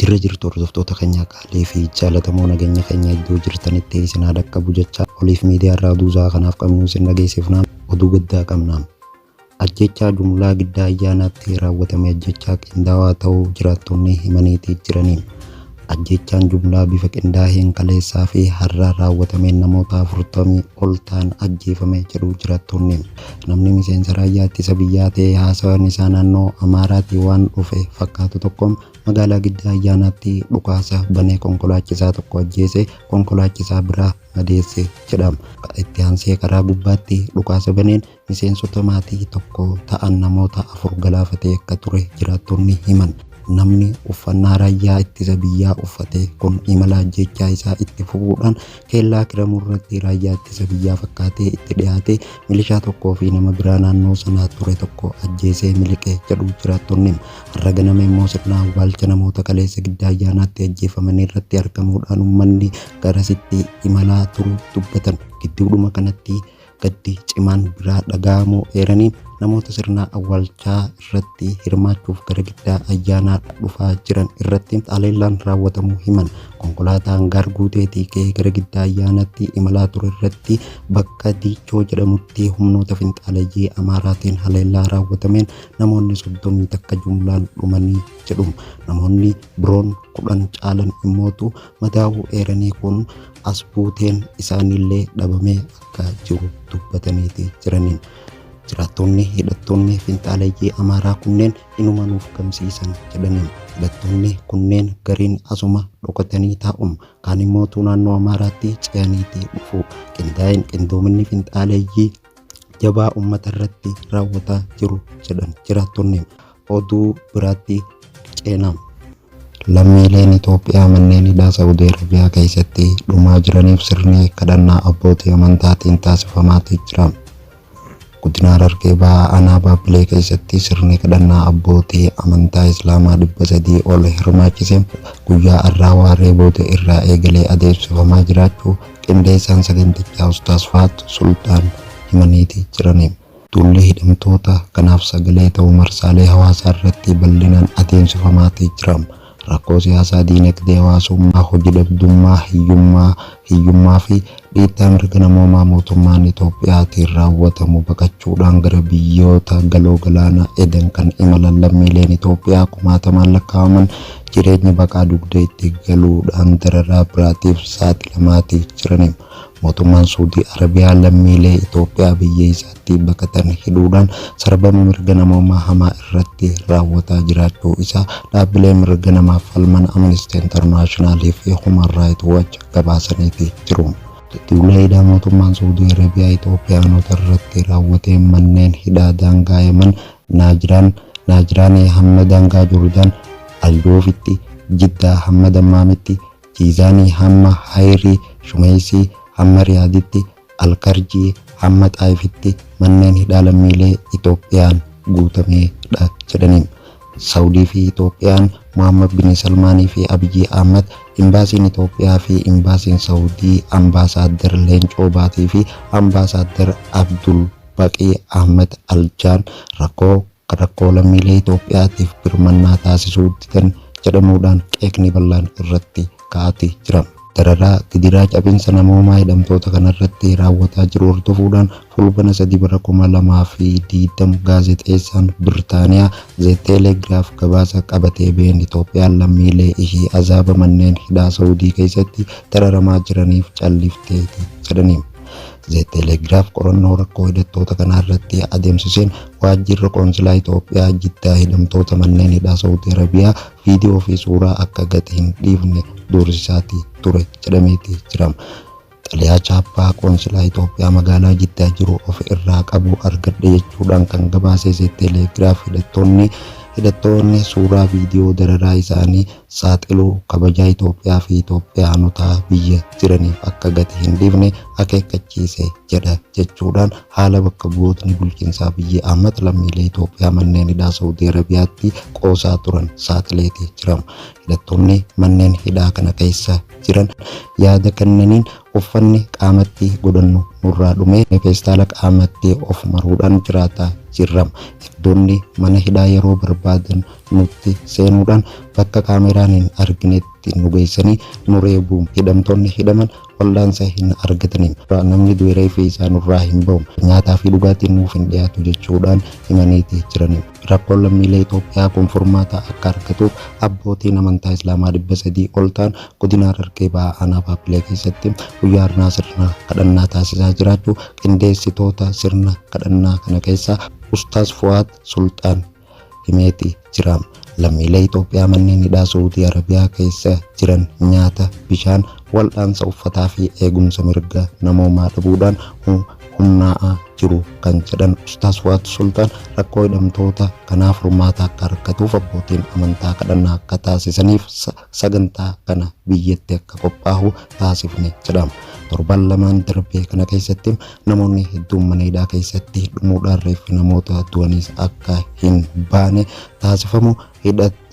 Jirra jirtu hordoftoota keenya qaalii fi jaalatamoo nageenya keenya iddoo jirtanitti isin haa dhaqqabu jecha oliif miidiyaa irraa oduu isaa kanaaf qabnu isin dhageessifnaan oduu gaddaa qabnaan. Ajjechaa jumlaa giddaa ayyaanaatti raawwatame ajjechaa qindaawaa ta'uu jiraattonni himaniitii jiranii. Ajjechaan jumlaa bifa qindaaheen kaleessaa fi har'a raawwatameen namoota 40 ol ta'an ajjeefame jedhu jiraattonni. namni miseensa raayyaa ittisa biyyaa ta'e haasawaan isaa naannoo Amaaraatii waan dhufe fakkaatu tokkoon magaalaa Giddaa Ayyaanaatti dhukaasa banee konkolaachisaa tokko ajjeese konkolaachisaa biraa madeesse jedhama. Itti aansee karaa gubbaatti dhukaasa baneen miseensota maatii tokko ta'an namoota afur galaafatee akka ture jiraattonni himan. Namni uffannaa raayyaa ittisa biyyaa uffate kun imala ajjeechaa isaa itti fufuudhaan Keellaa Kiramuu irratti raayyaa ittisa biyyaa fakkaatee itti dhiyaate milishaa tokkoo fi nama biraa naannoo sanaa ture tokko ajjeesee miliqe jedhu jiraattonni. Har'a ganama immoo sirna awwaalcha namoota kaleessa gidda ayyaanaatti ajjeefamanii irratti argamuudhaan uummanni garasitti imalaa turu dubbatan. Gidduudhuma kanatti gaddi cimaan biraa dhaga'amuu eeranii namoota sirna awwaalchaa irratti hirmaachuuf gara giddaa ayyaanaa dhufaa jiran irratti haleellaan raawwatamuu himan konkolaataan gaar guuteetii ka'ee gara giddaa ayyaanaatti imalaa ture irratti bakka diichoo jedhamutti humnoota finxaaleyyii amaaraatiin haleellaa raawwatameen namoonni soddomii takka jumlaan dhumanii jedhu namoonni biroon kudhan caalan immootu madaa'uu eeranii kun as buuteen isaaniillee dhabamee akka jiru dubbatameeti jiraniin jiraattoonni hidhattoonni finxaaleeyyii amaaraa kunneen inuma nuuf gamsiisan jedhaniin hidhattoonni kunneen gariin asuma dhokatanii taa'uun kaan immoo naannoo amaaraatti ce'aniiti dhufu qindaa'een qindoominni finxaaleeyyii jabaa uummata irratti raawwataa jiru jedhan jiraattoonni Oduu biraatti ceena. Lammiileen Itoophiyaa manneen hidhaa Sa'udii Arabiyaa keessatti dhumaa jiraniif sirni kadhannaa abbootii amantaatiin taasifamaatii jira. Godina Harargee Bahaa Aanaa Baabbilee keessatti sirni kadhannaa abbootii amantaa Islaamaa 300 ol hirmaachise guyyaa har'aa waaree booda irraa eegalee adeemsifamaa jiraachuu qindeessaan sagantichaa Ustaaz Faat Sultaan himaniitii jiraniiru. Duulli hidhamtoota kanaaf sagalee ta'u marsaalee hawaasaa irratti bal'inaan adeemsifamaati jira. Rakkoo siyaasaa, diinagdee, hawaasummaa, hoji dhabdummaa, hiyyummaa, hiyyummaa fi dhiittaa mirga namoomaa mootummaan Itoophiyaatiin raawwatamu baqachuudhaan gara biyyoota Galoo Galaanaa Eden kan imalan lammiileen Itoophiyaa kumaatamaan lakkaa'aman jireenyi baqaa dugda itti galuudhaan dararaa biraatiif saaxilamaati jiran. Mootummaan Suudii Arabiyaa lammiilee Itoophiyaa biyya isaatti baqatan hidhuudhaan sarbama mirga namoomaa hamaa irratti raawwataa jiraachuu isaa dhaabbileen mirga namaaf falman Amnesty International fi Human Rights Watch gabaasaniiti jiru. Duula hidhaa mootummaan Suudii Arabiyaa Itoophiyaanota irratti raawwateen manneen hidhaa daangaa Yaman, Naajiraan, Naajiraanee hamma daangaa Joordaan, Al-Joofitti, Jiddaa hamma Dammaamitti, Jiizaanii hamma Hayrii, Shumeeysii hamma Riyaaditti, Al-Karjii hamma Xaa'ifitti manneen hidhaa lammiilee Itoophiyaan guutamee dha jedhaniim. Sawudii fi Itoophiyaan Muhammad Bin Salmaanii fi Abiyyi Ahmad, Imbaasiin Itoophiyaa fi Imbaasiin Sawudii Ambaasaaddar Leencoo Baatii fi Ambaasaaddar Abdulbaqii Ahmad Aljaan rakkoo rakkoo lammiilee Itoophiyaatiif birmannaa taasisuu didan jedhamuudhaan qeeqni bal'aan irratti ka'aati jira. Dararaa, gidiraa, cabinsa namoomaa hidhamtoota kanarratti raawwataa jiru hordofuudhaan Fulbana 3 bara 2020 gaazexeessaan Birtaaniyaa Ze Teeleegraaf gabaasa qabatee ba'een Itoophiyaan lammiilee ishii azaaba manneen hidhaa Sa'uudii keessatti dararamaa jiraniif callifteeti jedhani. The Telegraph qorannoo rakkoo hidhattoota kanaa irratti adeemsiseen waajjirri qoonsilaa Itoophiyaa Jiddaa hidhamtoota manneen hidhaa Saawudii Arabiyaa viidiyoo fi suuraa akka gadi hin dhiifne doorsisaati ture jedhameeti jirama. Xalayaa chaappaa qoonsilaa Itoophiyaa magaalaa Jiddaa jiru of irraa qabu argadhe jechuudhaan kan gabaase The Telegraph hidhattoonni hidhattoonni suuraa viidiyoo dararaa isaanii saaxilu kabajaa Itoophiyaa fi Itoophiyaanota biyya jiraniif akka gati hin dhiifne akeekkachiise jedha jechuudhaan haala bakka bu'ootni bulchiinsa Abiyyi Ahmad lammiilee Itoophiyaa manneen hidhaa Sa'udii Arabiyaatti qoosaa turan saaxileeti jira. Hidhattoonni manneen hidhaa kana keessa jiran yaada kennaniin uffanni qaamatti godhannu nurraa dhumee feestaala qaamatti of maruudhaan jiraataa jirra. Eegdonni mana hidhaa yeroo barbaadan nutti seenuudhaan bakka kaameeraan hin arginetti nu geessanii nu reebu. Hidhamtoonni hidhaman wal'aansa hin argatani. Namni du'e reeffi isaa nurraa hin ba'u. Nyaataa fi dhugaatiin nuuf hin dhiyaatu jechuudhaan himaniiti jirani. Rakkoon lammiilee Itoophiyaa kun furmaata akka argatuuf abbootiin amantaa Islaamaa 300 ol ta'an godina Harargee Bahaa aanaa Baabbilee keessatti guyyaa har'aa sirna kadhannaa taasisaa jiraachuu qindeessitoota sirna kadhannaa kana keessaa Ustaaz Fu'aad Sulxaan himeeti jira. Lammiilee Itoophiyaa manneen hidhaa Suudii Arabiyaa keessa jiran nyaata, bishaan, waldhaansa uffataa fi eegumsa mirga namoomaa dhabuudhaan humnaa'aa jiru kan jedhan Ustaaz Fuwaad Sultaan rakkoo hidhamtoota kanaa furmaata akka argatuuf abbootiin amantaa kadhannaa akka taasisaniif sagantaa kana biyyatti akka qophaahu taasifne jedhama. Torban lamaan darbee kana keessatti namoonni hedduun mana hidhaa keessatti dhumuudhaan reeffi namoota du'aniis akka hin baane taasifamu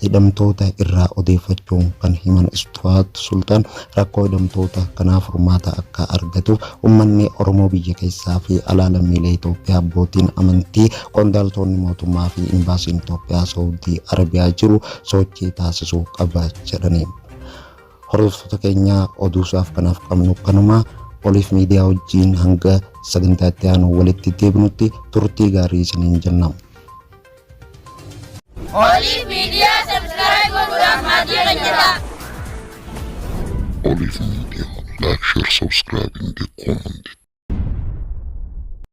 hidhamtoota irraa odeeffachuun kan himan Istuwaat Sultaan rakkoo hidhamtoota kanaa furmaata akka argatuuf uummanni Oromoo biyya keessaa fi alaa lammiilee Itoophiyaa abbootiin amantii qondaaltoonni mootummaa fi imbaasiin Itoophiyaa Saawudii Arabiyaa jiru sochii taasisuu qaba jedhaniin. Hordoftoota keenyaa oduusaaf kanaaf qabnu kanuma oliif miidiyaa wajjiin hanga sagantaa itti aanu walitti deebinutti turtii gaarii isiniin jenna. Oliif miidiyaa sabskiraayib godhuudhaan maatii keenya ta'a. Oliif miidiyaa laak sheer sabskiraayib indee koomantii.